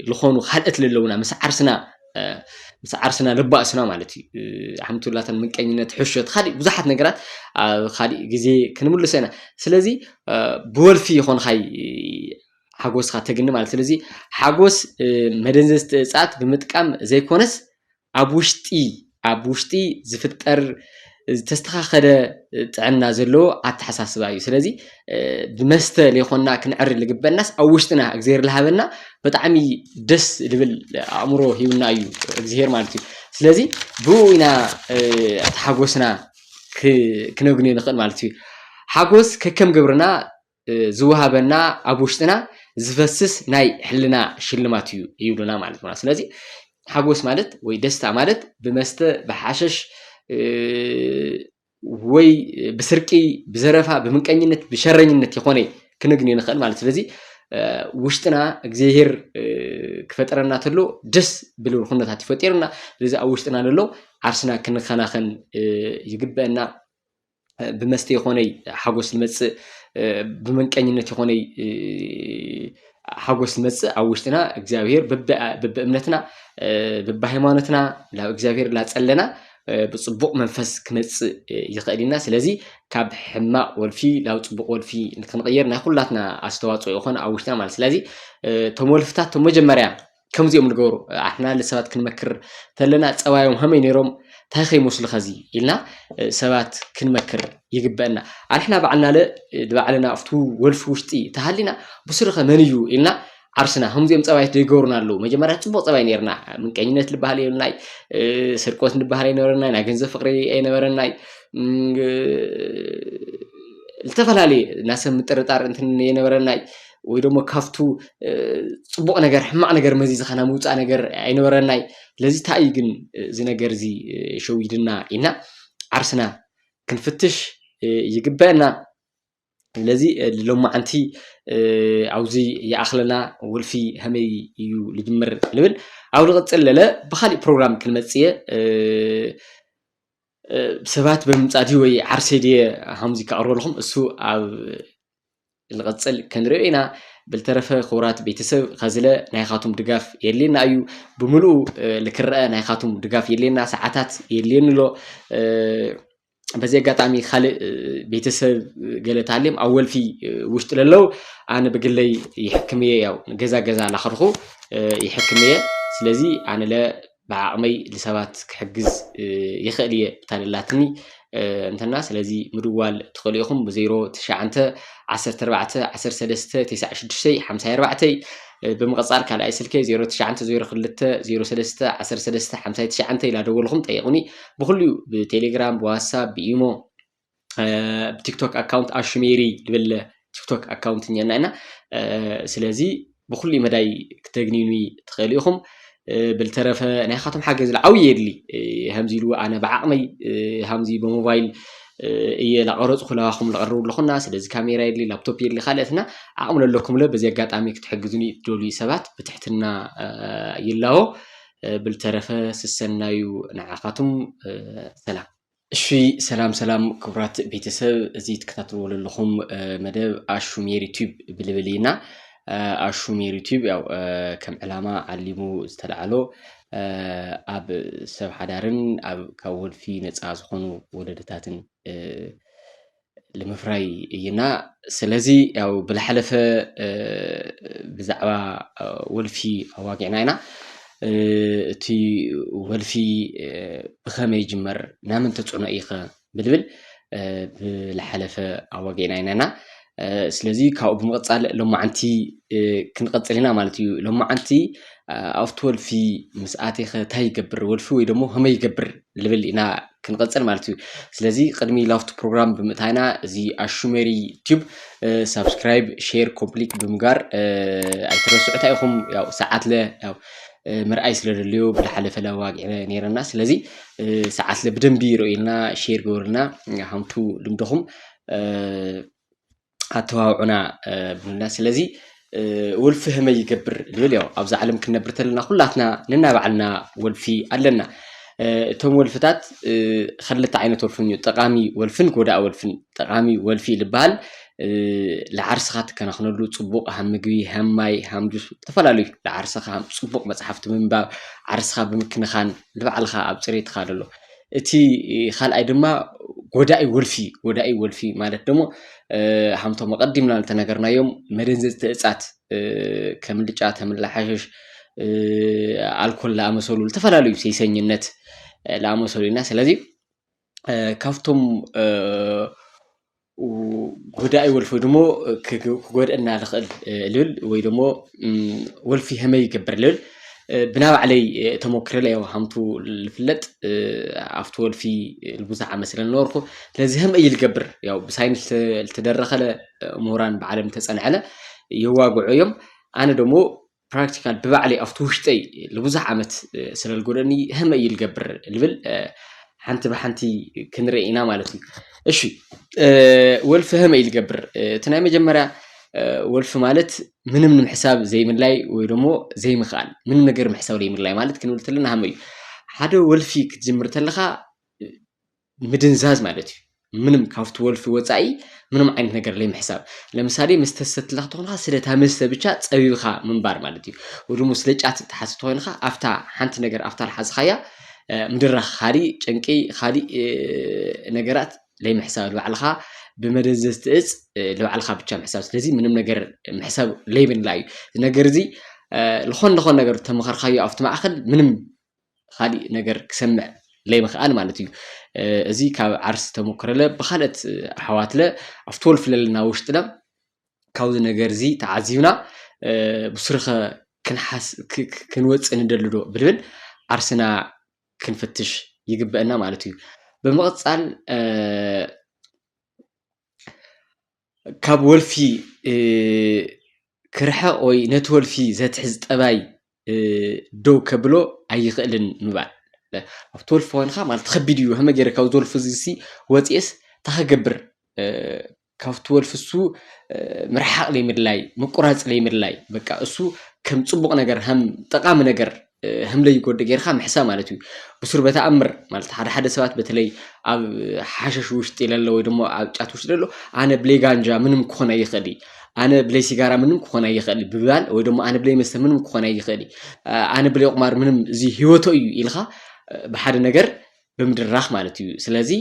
ዝኾኑ ካልኦት ለለውና ምስ ዓርስና ምስ ዓርስና ለባእስና ማለት እዩ ሓምቱላተን ምቀኝነት ሕሾት ካሊእ ብዙሓት ነገራት ኣብ ካሊእ ግዜ ክንምልሶ ኢና ስለዚ ብወልፊ ይኾንኻይ ሓጎስካ ተግኒ ማለት ስለዚ ሓጎስ መደንዘዝቲ እፅኣት ብምጥቃም ዘይኮነስ ኣብ ውሽጢ ኣብ ውሽጢ ዝፍጠር ዝተስተኻኸለ ጥዕና ዘለዎ ኣተሓሳስባ እዩ ስለዚ ብመስተ ለይኮንና ክንዕሪ ልግበናስ ኣብ ውሽጥና እግዚኣብሔር ልሃበና ብጣዕሚ ደስ ልብል ኣእምሮ ሂብና እዩ እግዚኣብሔር ማለት እዩ ስለዚ ብኡ ኢና እቲ ሓጎስና ክነግንዮ ንኽእል ማለት እዩ ሓጎስ ከከም ግብርና ዝወሃበና ኣብ ውሽጥና ዝፈስስ ናይ ሕልና ሽልማት እዩ ይብሉና ማለት ነው። ስለዚህ ሓጎስ ማለት ወይ ደስታ ማለት ብመስተ ብሓሸሽ ወይ ብስርቂ ብዘረፋ ብምንቀኝነት ብሸረኝነት ይኾነ ክንግኒ ንኽእል ማለት ስለዚ ውሽጥና እግዚኣብሄር ክፈጠረና ተሎ ደስ ብልብል ኩነታት ይፈጢርና ስለዚ ኣብ ውሽጥና ዘሎ ዓርስና ክንከናኸን ይግበአና ብመስተ ይኾነይ ሓጎስ ዝመጽእ ብመንቀኝነት ይኾነይ ሓጎስ ዝመጽእ ኣብ ውሽጥና እግዚኣብሄር በብእምነትና በብሃይማኖትና ናብ እግዚኣብሄር ላጸለና ብፅቡቕ መንፈስ ክመፅእ ይኽእል ኢና ስለዚ ካብ ሕማቕ ወልፊ ናብ ፅቡቕ ወልፊ ንክንቕየር ናይ ኩላትና ኣስተዋፅኦ ይኾን ኣብ ውሽጥና ማለት ስለዚ እቶም ወልፍታት እቶም መጀመርያ ከምዚ እዮም ዝገብሩ ኣሕና ሰባት ክንመክር ተለና ፀባዮም ከመይ ነይሮም እንታይ ከይመስሉ ከዚ ኢልና ሰባት ክንመክር ይግበአና ኣንሕና ባዕልና ለ ባዕልና ኣብቲ ወልፊ ውሽጢ ተሃሊና ብስሩኸ መን እዩ ኢልና ዓርስና ከምዚኦም ፀባይት ዘይገብሩና ኣለዉ መጀመርያ ፅቡቅ ፀባይ ነርና ምንቀኝነት ዝበሃል የብልናይ ስርቆት ንበሃል ኣይነበረናይ ናይ ገንዘብ ፍቅሪ ኣይነበረናይ ዝተፈላለየ ናሰብ ምጥርጣር እንትን የነበረናይ ወይ ደሞ ካብቱ ጽቡቕ ነገር ሕማቕ ነገር መዚዝካ ናይ ምውጻእ ነገር ኣይነበረናይ ስለዚ ታይ እዩ ግን እዚ ነገር እዚ ሸዊድና ኢልና ዓርስና ክንፍትሽ ይግበአና ስለዚ ሎማዓንቲ ኣብዚ ይኣኽለና ወልፊ ከመይ እዩ ልጅምር ንብል ኣብ ልቕጽል ለለ ብኻሊእ ፕሮግራም ክንመጽእ እየ ሰባት ብምምጻእ ድዩ ወይ ዓርሰይ ድየ ሃምዚ ከቕርበልኹም እሱ ኣብ ንቐጽል ከንሪኦ ኢና ብልተረፈ ክቡራት ቤተሰብ ከዝለ ናይኻቱም ድጋፍ የድልየና እዩ ብምልኡ ልክረአ ናይኻቱም ድጋፍ የድልየና ሰዓታት የድልየኒ ኣሎ በዚ ኣጋጣሚ ካልእ ቤተሰብ ገለ ታልም ኣብ ወልፊ ውሽጢ ለለው ኣነ ብግለይ ይሕክም እየ ያው ገዛ ገዛ ላኸድኹ ይሕክም እየ ስለዚ ኣነ ለ ብዓቕመይ ልሰባት ክሕግዝ ይኽእል እየ ብታደላትኒ እንተና ስለዚ ምድዋል ትኽእሉ ኢኹም ብ ዜሮ ትሽዓንተ ዓሰርተ ኣርባዕተ ዓሰርተ ሰለስተ ቴስዓ ሽዱሽተይ ሓምሳይ ኣርባዕተይ ብምቕጻል ካልኣይ ስልከይ ዜሮ ትሽዓንተ ዜሮ ክልተ ዜሮ ሰለስተ ዓሰርተ ሰለስተ ሓምሳይ ትሽዓንተ ኢላ ደወልኹም ጠይቑኒ ብኹሉ እዩ ብቴሌግራም ብዋትሳፕ ብኢሞ ብቲክቶክ ኣካውንት ኣሹሜሪ ድብል ቲክቶክ ኣካውንት እኛና ኢና ስለዚ ብኩሉ መዳይ ክተግኒኑ ትኽእሉ ኢኹም ብልተረፈ ናይ ካቶም ሓገዝ ዓብዪ የድሊ ከምዚ ኢሉ ኣነ ብዓቕመይ ከምዚ ብሞባይል እየ ላቐረፅኩ ለባኹም ለቐርቡ ኣለኹና ስለዚ ካሜራ የድሊ ላፕቶፕ የድሊ ካልእትና ዓቕሚ ለለኩምለ በዚ ኣጋጣሚ ክትሕግዙኒ ትደልዩ ሰባት ብትሕትና ይላቦ ብልተረፈ ስሰናዩ ንዓኻቱም ሰላም እሺ ሰላም ሰላም ክቡራት ቤተሰብ እዚ ትከታተልዎ ዘለኹም መደብ ኣሹ ሜሪ ቲዩብ ብልብል ኢና ኣሹ ሜሪ ቲዩብ ያው ከም ዕላማ ዓሊሙ ዝተላዕሎ ኣብ ሰብ ሓዳርን ኣብ ካብ ወልፊ ነፃ ዝኾኑ ወለድታትን ልምፍራይ እይና ስለዚ ያው ብላሓለፈ ብዛዕባ ወልፊ ኣዋጊዕና ኢና እቲ ወልፊ ብኸመይ ይጅመር ናምን ተፅዕኖ እይኸ ብልብል ብላሓለፈ ኣዋጊዕና ኢናና ስለዚ ካብኡ ብምቕፃል ሎማዓንቲ ክንቐፅል ኢና ማለት እዩ ሎማዓንቲ ኣብቲ ወልፊ ምስ ኣቴኸ እንታይ ይገብር ወልፊ ወይ ደሞ ከመይ ይገብር ልብል ኢና ክንቕፅል ማለት እዩ ስለዚ ቅድሚ ላፍቱ ፕሮግራም ብምእታይና እዚ ኣሹሜሪ ቲዩብ ሳብስክራይብ ሼር ኮምፕሊት ብምጋር ኣይትረስዑታ ኢኹም ያው ሰዓት ለ ያው ምርኣይ ስለ ደልዮ ብዝሓለፈ ለዋግ ነይረና ስለዚ ሰዓት ለ ብደንቢ ይርእዩልና ሼር ገበሩልና ሃምቱ ልምድኹም ኣተባብዑና ብሉና ስለዚ ወልፊ ህመይ ይገብር ዝብል ያው ኣብዛ ዓለም ክንነብር ተለና ኩላትና ነናባዕልና ወልፊ ኣለና እቶም ወልፍታት ክልተ ዓይነት ወልፍን እዩ ጠቃሚ ወልፍን ጎዳኢ ወልፍን ጠቃሚ ወልፊ ዝበሃል ንዓርስኻ ትከናኽነሉ ፅቡቕ ሃም ምግቢ ሃም ማይ ሃም ጁስ ዝተፈላለዩ ንዓርስኻ ፅቡቕ መፅሓፍቲ ምንባብ ዓርስኻ ብምክንኻን ንባዕልኻ ኣብ ፅሬትካ ዘሎ እቲ ኻልኣይ ድማ ጎዳኢ ወልፊ እዩ። ጎዳኢ ወልፊ ማለት ደሞ ሃምቶም ኣቐዲምና ዝተነገርናዮም መደንዘዝቲ እጻት ከም ልጫ፣ ተምላ፣ ሓሸሽ፣ ኣልኮል ዝኣመሰሉ ዝተፈላለዩ ሴሰኝነት ዝኣመሰሉ ኢና። ስለዚ ካብቶም ጎዳኢ ወልፊ ወይ ደሞ ክጎድእና ዝኽእል ልብል ወይ ደሞ ወልፊ ከመይ ይገብር ልብል ብናይ ባዕለይ ተሞክረ ኢለ ያው ሃምቱ ዝፍለጥ ኣብቲ ወልፊ ብዙሕ ዓመት ስለ ዝነበርኩ ስለዚ ከመይ እዩ ዝገብር ያው ብሳይንስ ዝተደረኸለ ምሁራን ባዕሎም ዝተፀንዐለ የዋግዑ እዮም። ኣነ ደሞ ፕራክቲካል ብባዕለይ ኣብቲ ውሽጠይ ንብዙሕ ዓመት ስለልጎደኒ ህመ እዩ ልገብር ልብል ሓንቲ ብሓንቲ ክንርኢ ኢና ማለት እዩ እሺ ወልፊ ህመ እዩ ልገብር እቲ ናይ መጀመርያ ወልፊ ማለት ምንም ንምሕሳብ ዘይምላይ ወይ ደሞ ዘይምኽኣል ምንም ነገር ምሕሳብ ዘይምላይ ማለት ክንብል ተለና ሃመ እዩ ሓደ ወልፊ ክትጅምር ተለኻ ምድንዛዝ ማለት እዩ ምንም ካብቲ ወልፊ ወጻኢ ምንም ዓይነት ነገር ለይምሕሳብ ለምሳሌ መስተ ዝሰትላ ክትኾንካ ስለታ መስተ ብቻ ጸቢብኻ ምንባር ማለት እዩ ወይ ደግሞ ስለ ጫት ትሓዝ ተኾይንካ ኣፍታ ሓንቲ ነገር ኣፍታ ልሓዝኻያ ምድራኽ ካሊእ ጭንቂ ካሊእ ነገራት ለይምሕሳብ ልባዕልኻ ብመደንዘዝቲ እጽ ልባዕልኻ ብቻ ምሕሳብ ስለዚ ምንም ነገር ምሕሳብ ለይብላ እዩ እዚ ነገር እዚ ልኾን ልኾን ነገር ተመኸርካዮ ኣብቲ ማእኸል ምንም ኻሊእ ነገር ክሰምዕ ለይምኽኣል ማለት እዩ። እዚ ካብ ዓርስ ተመክረለ ብኻልኦት ኣሕዋትለ ኣብ ትወልፍ ለለና ውሽጥለ ካብዚ ነገር እዚ ተዓዚብና ብሱርኸ ክንወፅእ ንደሊ ዶ ብልብል ዓርስና ክንፍትሽ ይግበእና ማለት እዩ። ብምቕፃል ካብ ወልፊ ክርሕቕ ወይ ነቲ ወልፊ ዘትሕዝ ጠባይ ደው ከብሎ ኣይኽእልን ምባል። ኣብቲ ወልፊ ኮንካ ማለት ከቢድ እዩ ከመይ ገይረ ካብዚ ወልፊ እዚ ሲ ወጺኤስ እንታይ ክገብር ካብቲ ወልፊ እሱ ምርሓቕ ዘይምድላይ ምቁራጽ ዘይምድላይ በቃ እሱ ከም ጽቡቕ ነገር ከም ጠቓሚ ነገር ህምለይ ጎዲ ጌርካ ምሕሳ ማለት እዩ ብሱር በተኣምር ማለት ሓደ ሓደ ሰባት በተለይ ኣብ ሓሸሽ ውሽጢ ለሎ ወይ ደሞ ኣብ ጫት ውሽጢ ለሎ ኣነ ብለይ ጋንጃ ምንም ክኾን ኣይኽእል ኣነ ብለይ ሲጋራ ምንም ክኾን ኣይኽእል ብባል ወይ ደሞ ኣነ ብለይ መስተ ምንም ክኾን ኣይኽእል ኣነ ብለይ ቁማር ምንም እዚ ህይወቶ እዩ ኢልኻ ብሓደ ነገር ብምድራኽ ማለት እዩ ስለዚ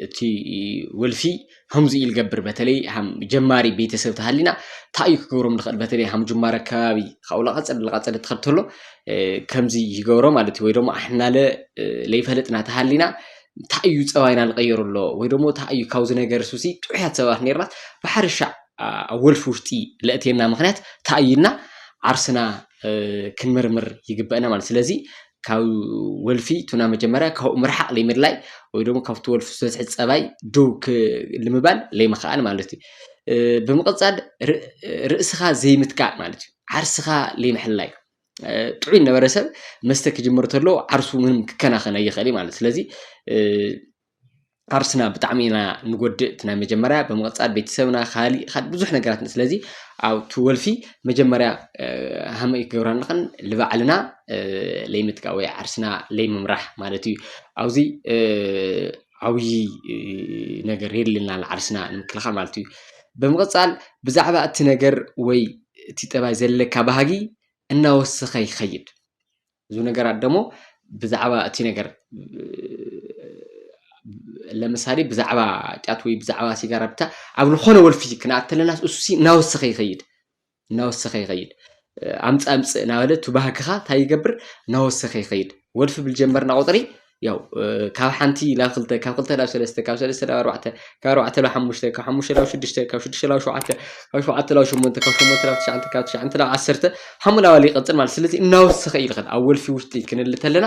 እቲ ወልፊ ከምዚ ኢል ገብር በተለይ ሃም ጀማሪ ቤተሰብ ተሃሊና ታዩ ክገብሮም ንኽእል በተለይ ሃም ጅማረ ከባቢ ካብኡ ላቐጸድ ላቐጸድ ትኸብተሎ ከምዚ ይገብሮ ማለት እዩ ወይ ደሞ ኣሕናለ ለይፈለጥና ተሃሊና ታዩ ጸባይና ልቐየሩ ኣሎ ወይ ደሞ ታዩ ካብዚ ነገር ሱሲ ጥዑያት ሰባት ነርናት ብሓርሻዕ ኣብ ወልፊ ውሽጢ ለእቴና ምኽንያት ታዩና ዓርስና ክንምርምር ይግበአና ማለት ስለዚ ካብ ወልፊ ቱና መጀመርያ ካብኡ ምርሓቕ ለይምድላይ ወይ ደግሞ ካብቲ ወልፊ ዝበፅሒ ፀባይ ደው ልምባል ለይምኽኣል ማለት እዩ ብምቕፃል ርእስኻ ዘይምትካእ ማለት እዩ ዓርስኻ ለይምሕላይ ጥዑይ ነበረ ሰብ መስተ ክጅምር ተሎ ዓርሱ ምንም ክከናኸን ኣይኽእል ማለት ስለዚ ዓርስና ብጣዕሚ ኢና ንጎድእ እቲ ናይ መጀመርያ ብምቕጻል ቤተሰብና ካሊእ ካሊእ ብዙሕ ነገራት ስለዚ ኣብቲ ወልፊ መጀመርያ ሃመይ ክገብራ ኣለኽን ልባዕልና ለይምጥቃ ወይ ዓርስና ለይምምራሕ ማለት እዩ ኣብዚ ዓብዪ ነገር የድልየና ኣሎ ዓርስና ንምክልኻል ማለት እዩ። ብምቕጻል ብዛዕባ እቲ ነገር ወይ እቲ ጠባይ ዘለካ ባህጊ እናወሰኸ ይኸይድ። ብዙ ነገራት ደሞ ብዛዕባ እቲ ነገር ለምሳሌ ብዛዕባ ጫት ወይ ብዛዕባ ሲጋራ ብቻ ኣብ ዝኾነ ወልፊ ክንኣት ተለና እሱሲ እናወሰኸ ይኸይድ እናወሰኸ ይኸይድ ኣምፅ ኣምፅ እናበለ እቲ ባህግኻ እንታይ ይገብር እናወሰኸ ይኸይድ ወልፊ ብልጀመርና ቁፅሪ ያው ካብ ሓንቲ ናብ ክልተ ካብ ክልተ ናብ ሰለስተ ካብ ሰለስተ ናብ ኣርባዕተ ካብ ኣርባዕተ ናብ ሓሙሽተ ካብ ሓሙሽተ ናብ ሽዱሽተ ካብ ሽዱሽተ ናብ ሸውዓተ ካብ ሸውዓተ ናብ ሸሞንተ ካብ ሸሞንተ ናብ ትሽዓተ ካብ ትሽዓተ ናብ ዓሰርተ ሓሙ ናባል ይቐፅል ማለት ስለዚ እናወሰኸ እዩ ዝኸድ ኣብ ወልፊ ውሽጢ ክንል ተለና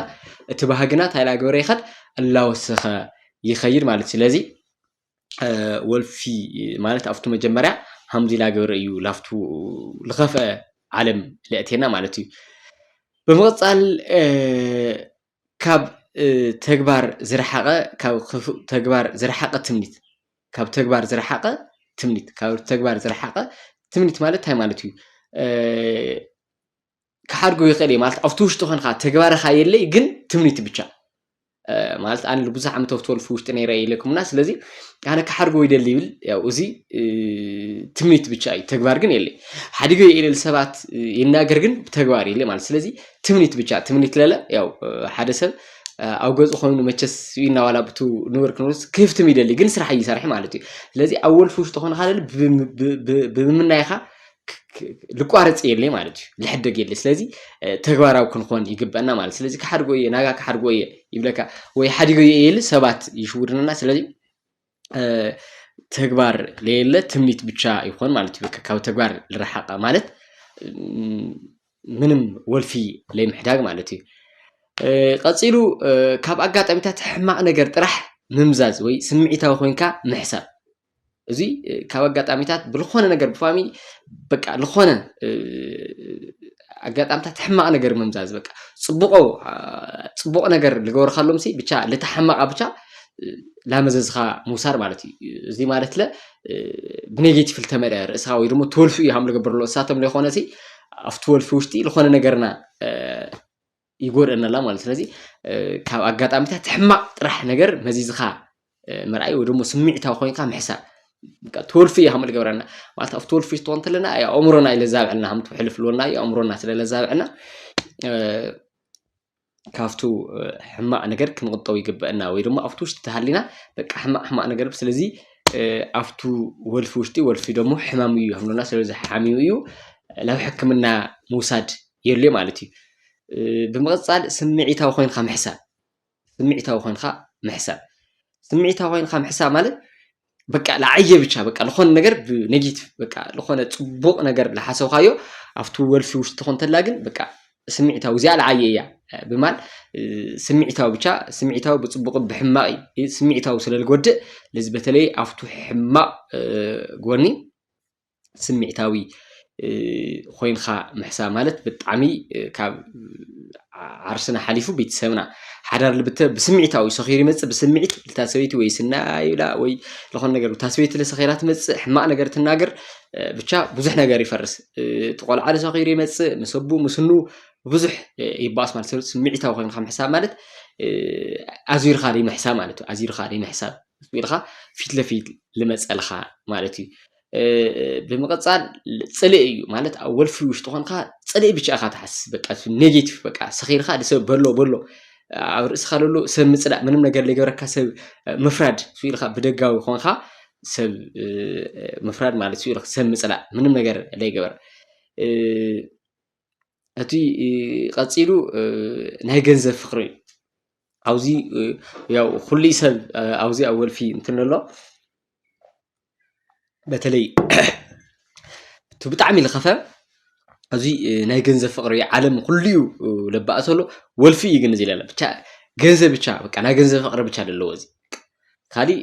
እቲ ባህግና እንታይ እናገበረ ይኸድ እናወሰኸ ይኸይድ ማለት ስለዚ ወልፊ ማለት ኣብቱ መጀመርያ ሃምዚ እናገበረ እዩ ላፍቱ ዝኸፍአ ዓለም ለእቴና ማለት እዩ ብምቕፃል ካብ ተግባር ዝረሓቐ ካብ ክፉእ ተግባር ዝረሓቐ ትምኒት ካብ ተግባር ዝረሓቐ ትምኒት ካብ ተግባር ዝረሓቐ ትምኒት ማለት እንታይ ማለት እዩ? ክሓድጎ ይኽእል እየ ማለት ኣብቲ ውሽጢ ኮንካ ተግባርኻ የለይ ግን ትምኒት ብቻ ማለት ኣነ ብዙሕ ዓመት ኣብቲ ወልፊ ውሽጢ ነይረ ኢለኩምና ስለዚ ኣነ ክሓድጎ ይደሊ ይብል ያው እዚ ትምኒት ብቻ እዩ ተግባር ግን የለይ ሓዲገ የኢለል ሰባት ይናገር ግን ብተግባር የለይ ማለት ስለዚ ትምኒት ብቻ ትምኒት ለለ ያው ሓደ ሰብ ኣብ ገፁ ኮይኑ መቸስ ስብኢና ዋላ ብቱ ንብር ክንብርስ ክህፍትም ይደሊ ግን ስራሕ እይሰርሐ ማለት እዩ ስለዚ ኣብ ወልፊ ውሽጢ ኾንካ ለለ ብምምናይኻ ልቋረፅ የለይ ማለት እዩ ልሕደግ የለ ስለዚ ተግባራዊ ክንኾን ይግበአና ማለት ስለዚ ክሓድጎ እየ ናጋ ክሓድጎ እየ ይብለካ ወይ ሓዲጎ እየ ኢል ሰባት ይሽውድንና ስለዚ ተግባር ለየለ ትምኒት ብቻ ይኾን ማለት እዩ። ካብ ተግባር ልረሓቐ ማለት ምንም ወልፊ ለይምሕዳግ ማለት እዩ። ቀፂሉ ካብ ኣጋጣሚታት ሕማቕ ነገር ጥራሕ ምምዛዝ ወይ ስምዒታዊ ኮንካ ምሕሳብ እዚ ካብ ኣጋጣሚታት ብልኾነ ነገር ብፋሚ በቃ ልኾነ ኣጋጣምታት ሕማቅ ነገር ምምዛዝ በቃ ጽቡቆ ጽቡቅ ነገር ልገብርካሎም ሲ ብቻ ልታ ሕማቃ ብቻ ላመዘዝኻ ምውሳድ ማለት እዩ እዚ ማለት ለ ብኔጌቲቭ ልተመልአ ርእሳ ወይ ድማ ትወልፊ እዩ ሃም ልገብርሎ እሳቶም ለይኮነ ሲ ኣብቲ ወልፊ ውሽጢ ልኾነ ነገርና ይጎድኣና ኣላ ማለት ስለዚ ካብ ኣጋጣሚታት ሕማቅ ጥራሕ ነገር መዚዝካ ምርኣይ ወይ ደሞ ስምዒታዊ ኮይንካ ምሕሳብ ትወልፊ እያ ከም ልገብረና ማለት ኣብ ትወልፊ ስትኾን እንተለና ኣእምሮና እዩ ለዛብዐና ከም ትውሕልፍ ልወና እዩ ኣእምሮና ስለ ለዛብዐና ካብቱ ሕማቅ ነገር ክንቁጠብ ይግበአና ወይ ደሞ ኣብቲ ውሽጢ ተሃሊና በቃ ሕማቅ ሕማቅ ነገር ስለዚ ኣብቱ ወልፊ ውሽጢ ወልፊ ደሞ ሕማም እዩ ከምሎና ስለዚ ሓሚሙ እዩ ናብ ሕክምና ምውሳድ የድልዮ ማለት እዩ። ብምቕፃል ስምዒታዊ ኮይንካ ምሕሳብ ስምዒታዊ ኮይንካ ምሕሳብ ስምዒታዊ ኮይንካ ምሕሳብ ማለት በቃ ለዓየ ብቻ በቃ ዝኾነ ነገር ብኔጌቲቭ በቃ ዝኾነ ፅቡቕ ነገር ዝሓሰብካዮ ኣብቲ ወልፊ ውሽጢ ኮንተላ ግን በቃ ስምዒታዊ እዚኣ ለዓየ እያ ብማል ስምዒታዊ ብቻ ስምዒታዊ ብፅቡቕ ብሕማቕ እዩ ስምዒታዊ ስለ ዝጎድእ ለዚ በተለይ ኣብቱ ሕማቕ ጎኒ ስሚዕታዊ ኮይንካ ምሕሳብ ማለት ብጣዕሚ ካብ ዓርስና ሓሊፉ ቤተሰብና ሓዳር ልብተ ብስምዒታዊ ሰኺሩ ይመፅእ ብስምዒት ልታ ሰበይቲ ወይ ስና ይብላ ወይ ዝኾነ ነገር እታ ሰበይቲ ለሰኺራ ትመፅእ ሕማቕ ነገር ትናገር ብቻ ብዙሕ ነገር ይፈርስ እቲ ቆልዓ ልሰኺሩ ይመፅእ ምስ ኣቡ ምስ ኑ ብዙሕ ይባኣስ ማለት ሰብ ስምዒታዊ ኮይንካ ምሕሳብ ማለት ኣዙርካ ዘይምሕሳብ ማለት እዩ ኣዙርካ ዘይምሕሳብ ኢልካ ፊት ለፊት ልመፀልካ ማለት እዩ ብምቕጻል ጽልኢ እዩ ማለት ኣብ ወልፊ ውሽጢ ኮንካ ጽልኢ ብቻ ኢኻ ትሓስብ በቃ ኔጌቲቭ በቃ ሰኺርካ ንሰብ በሎ በሎ ኣብ ርእስኻ ለሎ ሰብ ምጽላእ ምንም ነገር ዘይገበረካ ሰብ ምፍራድ ሱ ኢልካ ብደጋዊ ኮንካ ሰብ ምፍራድ ማለት ሱ ኢልካ ሰብ ምጽላእ ምንም ነገር ዘይገበር እቲ ቀፂሉ ናይ ገንዘብ ፍቅሪ እዩ ኣብዚ ያው ኩሉይ ሰብ ኣብዚ ኣብ ወልፊ እንትን ኣሎ በተለይ እቲ ብጣዕሚ ልኸፈ ኣብዚ ናይ ገንዘብ ፍቅሪ እዩ ዓለም ኩሉይ ለባእሱ ኣሎ ወልፊ እዩ ግን እዚ ለለ ብቻ ገንዘብ ብቻ በቃ ናይ ገንዘብ ፍቅሪ ብቻ ለለዎ እዚ ካሊእ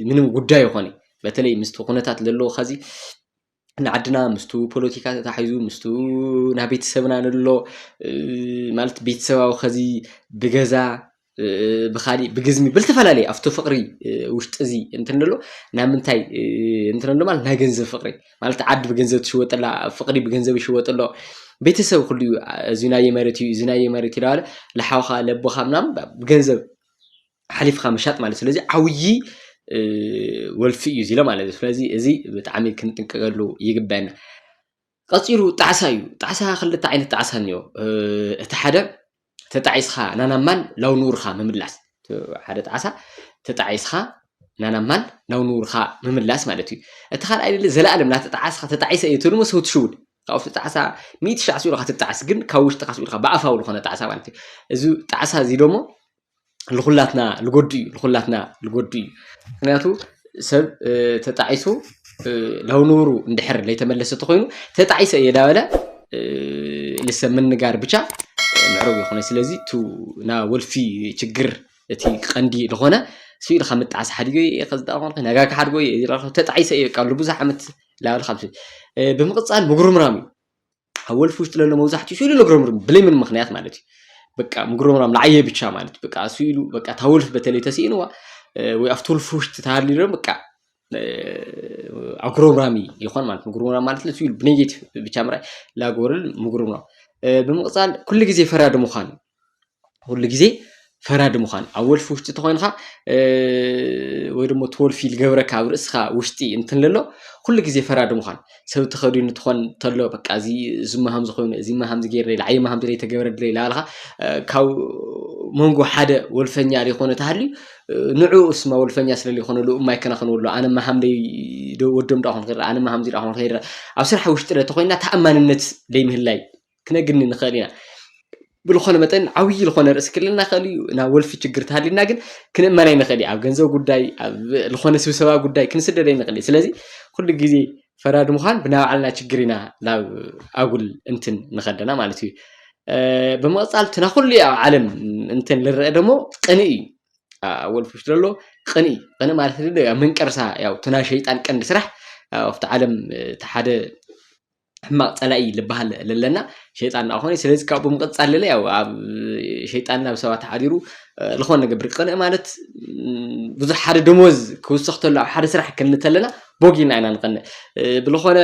ምንም ጉዳይ ኣይኮነይ በተለይ ምስቲ ኩነታት ለለዎ ኸዚ ንዓድና ምስቱ ፖለቲካ ተታሒዙ ምስቱ ናይ ቤተሰብና ንሎ ማለት ቤተሰባዊ ከዚ ብገዛ ብካሊእ ብግዝሚ ብዝተፈላለየ ኣብቲ ፍቅሪ ውሽጢ እዚ እንትን ንሎ ናብ ምንታይ እንትን ንሎ ማለት ናይ ገንዘብ ፍቅሪ ማለት ዓዲ ብገንዘብ ትሽወጥ ኣላ ፍቅሪ ብገንዘብ ይሽወጥ ኣሎ ቤተሰብ ኩሉ እዩ እዚ ናየ መሬት እዩ እዚ ናየ መሬት እዩ እናበለ ልሓውካ ለቦካ ምናምን ብገንዘብ ሓሊፍካ ምሻጥ ማለት እዩ። ስለዚ ዓብዪ ወልፊ እዩ እዚ ኢለ ማለት እዩ። ስለዚ እዚ ብጣዕሚ ክንጥንቀቀሉ ይግበአና። ቀፂሉ ጣዕሳ እዩ። ጣዕሳ ክልተ ዓይነት ጣዕሳ እኒኦ። እቲ ሓደ ተጣዒስኻ ናናብ ማል ናብ ንቡርካ ምምላስ ሓደ ጣዕሳ ተጣዒስኻ ናናብ ማል ናብ ንቡርካ ምምላስ ማለት እዩ። እቲ ካልኣይ ዘለኣለም እናተጣዓስኻ ተጣዒሰ እየ ትብል እሞ ሰው ትሽውድ ካብ ውሽጢ ጣዕሳ ሚእቲ ሻዕ ስኢሉ ከትጣዕስ ግን ካብ ውሽጥካ ስኢልካ ብኣፋዊ ዝኾነ ጣዕሳ ማለት እዩ እዚ ጣዕሳ እዚ ደሞ ልኹላትና ልጎድእ እዩ ልኹላትና ልጎድእ እዩ ምክንያቱ ሰብ ተጣዒሱ ናብ ንቡሩ እንድሕር ለይተመለሰ ተኾይኑ ተጣዒሰ እየ ዳበለ ልሰብ ምንጋር ብቻ ምዕሩግ ይኾነ ስለዚ ቱ ና ወልፊ ችግር እቲ ቀንዲ ዝኾነ ስኢልካ ምጣዓስ ሓዲገ እየ ከዝዳ ኮንከ ነጋ ክሓድጎ እየ ተጣዒሰ እየ ቃሉ ብዙሕ ዓመት ላዕሊ ካብ ስእሊ ብምቕጻል ምጉርምራም እዩ ኣብ ወልፊ ውሽጢ ለሎ መብዛሕትኡ ስእሉ ለጉረምርም ብለይ ምን ምክንያት ማለት እዩ በቃ ምጉርምራም ንዓየ ብቻ ማለት በቃ ስእሉ በቃ እታ ወልፊ በተለይ ተስኢንዋ ወይ ኣብቲ ወልፊ ውሽጢ ተሃልዩ ዶ በቃ ኣጉረምራሚ ይኾን ማለት ምጉርምራም ማለት ስእሉ ብኔጌቲቭ ብቻ ምርኣይ ላጎርል ምጉርምራም ብምቕጻል ኩሉ ግዜ ፈራዲ ምዃን ኩሉ ግዜ ፈራዲ ምዃን ኣብ ወልፊ ውሽጢ ተኾይንካ ወይ ደሞ እቲ ወልፊ ዝገብረካ ኣብ ርእስኻ ውሽጢ እንትንለሎ ኩሉ ግዜ ፈራዲ ምዃን ሰብ ተኸዲኑ ትኾን ተሎ በቃ እዚ እዚማ ሃምዚ ኮይኑ እዚማ ሃምዚ ገይረ ላዕይማ ሃምዚ ዘይተገብረለ ላበልካ ካብ መንጎ ሓደ ወልፈኛ ዘይኮነ ተሃልዩ ንዕኡ እስማ ወልፈኛ ስለ ዘይኮነ ልኡ እማ ይከናኸንዎ ኣሎ ኣነማ ሃምደይ ወዶም ደኣ ኮን ክርኢ ኣነማ ሃምዚ ደኣ ኮን ክርኢ ኣብ ስራሕ ውሽጢ ተኾይንና ተኣማንነት ዘይምህላይ ክነግኒ ንኽእል ኢና። ብዝኾነ መጠን ዓብዪ ዝኾነ ርእሲ ክህልወና ይኽእል እዩ። ናብ ወልፊ ችግር ተሃሊና ግን ክንእመን ኣይንኽእል እዩ። ኣብ ገንዘብ ጉዳይ፣ ኣብ ዝኾነ ስብሰባ ጉዳይ ክንስደድ ኣይንኽእል እዩ። ስለዚ ኩሉ ግዜ ፈራዲ ምዃን ብናይ ባዕልና ችግር ኢና ናብ ኣጉል እንትን ንኸደና ማለት እዩ። ብምቕጻል እቲ ናብ ኩሉ ኣብ ዓለም እንትን ልረአ ደሞ ቅንኢ እዩ። ኣብ ወልፊ ውሽጢ ዘሎ ቅንኢ ቅንኢ ማለት ዶ ያው መንቀርሳ ያው እቲ ናይ ሸይጣን ቀንዲ ስራሕ ኣብቲ ዓለም እቲ ሓደ ሕማቅ ፀላኢ ልበሃል ለለና ሸይጣን እናኾነ ስለዚ ካብኡ ብምቕፃል ለለ ያው ኣብ ሸይጣን ናብ ሰባት ሓዲሩ ዝኾነ ነገብር ቅንኢ ማለት ብዙሕ ሓደ ደሞዝ ክውስኽ ተሎ ኣብ ሓደ ስራሕ ክንሊ ተለና ቦጊና ኢና ንቐንእ ብልኾነ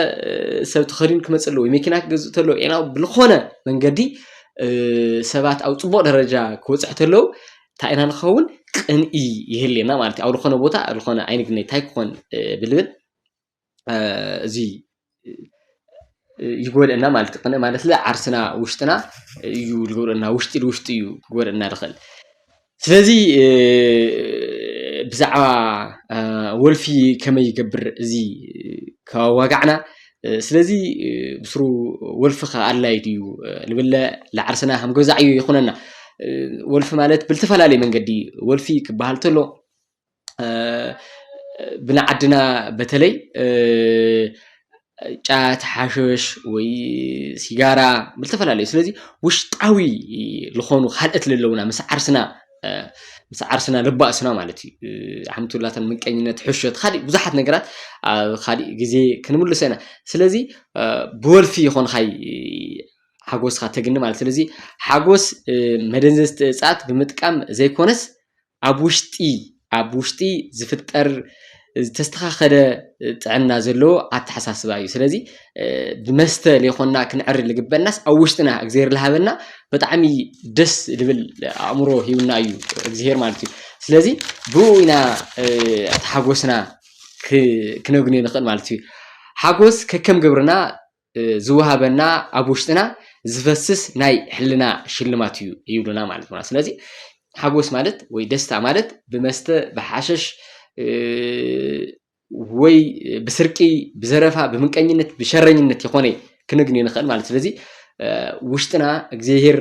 ሰብ ተኸዲኑ ክመፅእ ኣለዎ መኪና ክገዝእ ተሎ ኢና ብልኾነ መንገዲ ሰባት ኣብ ፅቡቕ ደረጃ ክወፅሕ ተለው እንታይ ኢና ንኸውን ቅንኢ ይህልየና ማለት እዩ ኣብ ዝኾነ ቦታ ዝኾነ ኣይንግነይ እንታይ ክኾን ብልብል እዚ ይጎድእና ማለት እዩ። ማለት ዓርስና ውሽጥና እዩ ዝጎድእና ውሽጢ ንውሽጢ እዩ ክጎድእና ዝኽእል። ስለዚ ብዛዕባ ወልፊ ከመይ ይገብር እዚ ከዋጋዕና ስለዚ ብስሩ ወልፊ ከ ኣድላይ ድዩ ንብለ ንዓርስና ከም ገዛ ዕዮ ይኹነና። ወልፊ ማለት ብዝተፈላለየ መንገዲ ወልፊ ክበሃል ተሎ ብናዓድና በተለይ ጫት ሓሽሽ ወይ ሲጋራ ብዝተፈላለዩ ስለዚ ውሽጣዊ ዝኾኑ ካልኦት ለለውና ምስ ዓርስና ምስ ዓርስና ለባእስና ማለት እዩ ሓምቱላተን ምቀኝነት ሕሾት ካሊእ ብዙሓት ነገራት ኣብ ካሊእ ግዜ ክንምልሶ ኢና ስለዚ ብወልፊ ይኾንኻይ ሓጎስካ ተግኒ ማለት ስለዚ ሓጎስ መደንዘዝቲ እፅኣት ብምጥቃም ዘይኮነስ ኣብ ውሽጢ ኣብ ውሽጢ ዝፍጠር ዝተስተኻኸለ ጥዕና ዘለዎ ኣተሓሳስባ እዩ ስለዚ ብመስተ ለይኮንና ክንዕሪ ልግበናስ ኣብ ውሽጥና እግዚኣብሔር ልሃበና ብጣዕሚ ደስ ልብል ኣእምሮ ሂብና እዩ እግዚኣብሔር ማለት እዩ ስለዚ ብኡ ኢና እቲ ሓጎስና ክነግንዮ ንኽእል ማለት እዩ ሓጎስ ከከም ግብርና ዝወሃበና ኣብ ውሽጥና ዝፈስስ ናይ ሕልና ሽልማት እዩ ይብሉና ማለት ነው። ስለዚህ ሓጎስ ማለት ወይ ደስታ ማለት ብመስተ ብሓሸሽ ወይ ብስርቂ ብዘረፋ ብምንቀኝነት ብሸረኝነት ይኾነ ክንግኒ ንኽእል ማለት ስለዚ ውሽጥና እግዚኣብሄር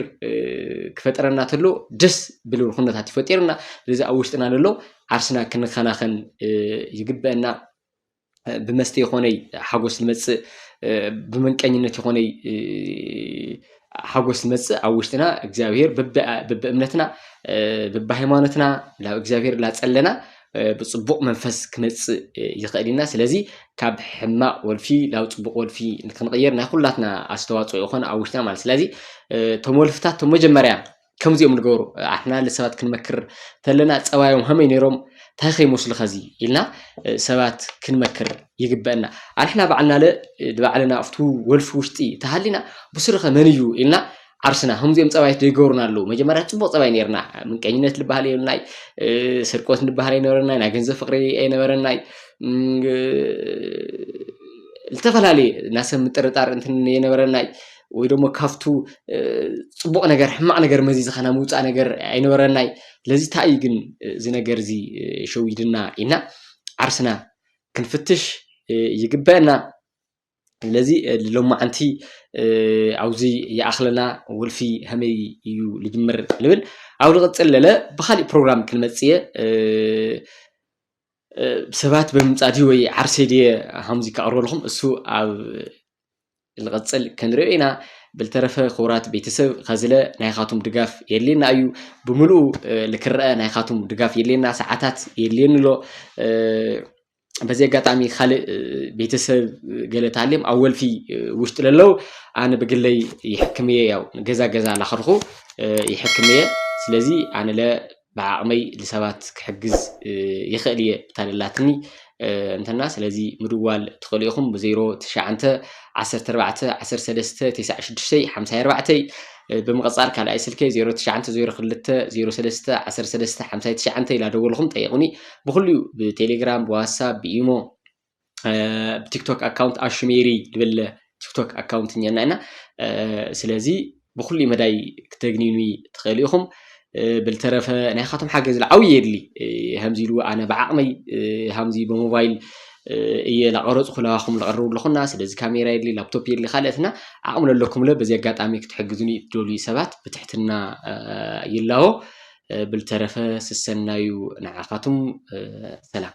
ክፈጠረና ተሎ ደስ ብልብል ኩነታት ይፈጢርና ስለዚ ኣብ ውሽጥና ዘሎ ዓርስና ክንከናኸን ይግበአና ብመስተ ይኾነይ ሓጎስ ዝመጽእ ብመንቀኝነት ይኾነይ ሓጎስ ዝመጽእ ኣብ ውሽጥና እግዚኣብሄር ብብእምነትና ብብሃይማኖትና ናብ እግዚኣብሄር ላጸለና ብፅቡቕ መንፈስ ክመፅእ ይኽእል ኢና ስለዚ ካብ ሕማቕ ወልፊ ናብ ፅቡቕ ወልፊ ንክንቕየር ናይ ኩላትና ኣስተዋፅኦ ይኾን ኣብ ውሽጥና ማለት ስለዚ እቶም ወልፍታት መጀመርያ ከምዚ እዮም ዝገብሩ ኣሕና ሰባት ክንመክር ተለና ፀባዮም ከመይ ነይሮም እንታይ ከይመስሉ ከዚ ኢልና ሰባት ክንመክር ይግበአና ኣንሕና ባዕልና ለ ንባዕልና ኣብቲ ወልፊ ውሽጢ ተሃሊና ብስሩኸ መን እዩ ኢልና ዓርስና ከምዚኦም ፀባይት ዘይገብሩና ኣለዉ መጀመርያ ፅቡቅ ፀባይ ነርና ምንቀኝነት ዝበሃል የብልናይ ስርቆት ንበሃል ኣይነበረናይ ናይ ገንዘብ ፍቅሪ ኣይነበረናይ ዝተፈላለየ ናሰብ ምጥርጣር እንትን የነበረናይ ወይ ደሞ ካብቱ ጽቡቕ ነገር ሕማቕ ነገር መዚዝካ ናይ ምውጻእ ነገር ኣይነበረናይ ስለዚ ታይ እዩ ግን እዚ ነገር እዚ ሸዊድና ኢልና ዓርስና ክንፍትሽ ይግበአና ስለዚ ሎማዓንቲ ኣብዚ ይኣኽለና ወልፊ ከመይ እዩ ልጅምር ንብል ኣብ ልቕጽል ለለ ብኻሊእ ፕሮግራም ክንመጽእ እየ ሰባት ብምምጻእ ድዩ ወይ ዓርሰይ ድየ ሃምዚ ከቕርበልኹም እሱ ኣብ ንቐጽል ከንሪኦ ኢና ብልተረፈ ክቡራት ቤተሰብ ከዝለ ናይኻቱም ድጋፍ የድልየና እዩ ብምልኡ ልክረአ ናይኻቱም ድጋፍ የድልየና ሰዓታት የድልየኒ ኣሎ በዚ ኣጋጣሚ ካልእ ቤተሰብ ገለ ታልም ኣብ ወልፊ ውሽጢ ለለው ኣነ ብግለይ ይሕክም እየ ያው ገዛ ገዛ ላኸድኹ ይሕክም እየ ስለዚ ኣነ ለ ብዓቕመይ ልሰባት ክሕግዝ ይኽእል እየ ብታደላትኒ እንተና ስለዚ ምድዋል ትኽእሉ ኢኹም ብ ዜሮ ትሽዓንተ ዓሰርተ ኣርባዕተ ዓሰርተ ሰለስተ ቴስዓ ሽዱሽተይ ሓምሳይ ኣርባዕተይ ብምቕጻል ካልኣይ ስልከይ ዜሮ ትሽዓንተ ዜሮ ክልተ ዜሮ ሰለስተ ዓሰርተ ሰለስተ ሓምሳይ ትሽዓንተ ኢላ ደወልኹም ጠይቑኒ ብኹሉ እዩ ብቴሌግራም ብዋትሳፕ ብኢሞ ብቲክቶክ ኣካውንት ኣሹ ሜሪ ድብል ቲክቶክ ኣካውንት እኛና ኢና ስለዚ ብኩሉ መዳይ ክተግኒኑ ትኽእሉ ኢኹም ብልተረፈ ናይ ካቶም ሓገዝ ዓብዪ የድሊ ከምዚ ኢሉ ኣነ ብዓቕመይ ከምዚ ብሞባይል እየ ላቐረፅኩ ለባኹም ለቐርቡ ኣለኹና ስለዚ ካሜራ የድሊ ላፕቶፕ የድሊ ካልኦትና ዓቕሚ ለለኩም ለ በዚ ኣጋጣሚ ክትሕግዙኒ ትደልዩ ሰባት ብትሕትና ይላቦ ብልተረፈ ስሰናዩ ንዓኻቱም ሰላም